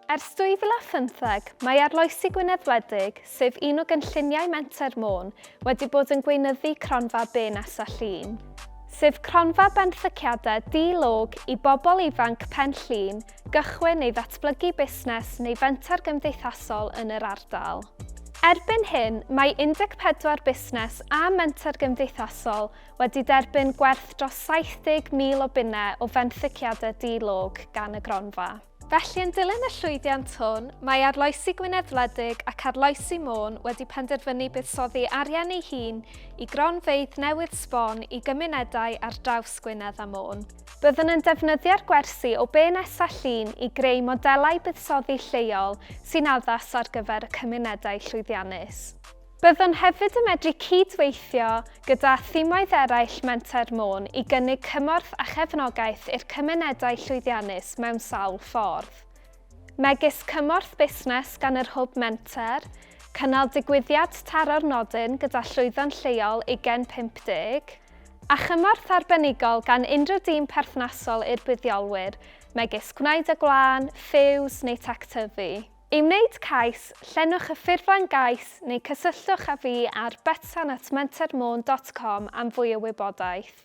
Ers 2015, mae Arloesi Gwynedd Wledig, sef un o gynlluniau Menter Môn, wedi bod yn gweinyddu cronfa Be Nesa Llun, sef cronfa benthyciadau di-log i bobl ifanc Pen Llŷn gychwyn neu ddatblygu busnes neu fenter gymdeithasol yn yr ardal. Erbyn hyn, mae 14 busnes a menter gymdeithasol wedi derbyn gwerth dros 70,000 o bunnau o fenthyciadau di-log gan y gronfa. Felly yn dilyn y llwyddiant hwn, mae Arloesi Gwynedd Wledig ac Arloesi Môn wedi penderfynu buddsoddi arian ei hun i gronfeydd newydd sbon i gymunedau ar draws Gwynedd a Môn. Byddwn yn defnyddio'r gwersi o be nesa llun i greu modelau buddsoddi lleol sy'n addas ar gyfer y cymunedau llwyddiannus. Byddwn hefyd yn medru cyd-weithio gyda thimwaith eraill Menter Môn i gynnig cymorth a chefnogaeth i'r cymunedau llwyddiannus mewn sawl ffordd, megis cymorth busnes gan yr Hwb Menter, cynnal digwyddiad taro'r nodyn gyda llwyddon lleol Ugen 50, a chymorth arbenigol gan unrhyw dîm perthnasol i'r buddiolwyr, megis Gwneud y Gwlân, Fuse neu Tectyfu. I wneud cais, llenwch y ffurflen gais neu cysylltwch â fi ar betsan at mentermôn dot com am fwy o wybodaeth.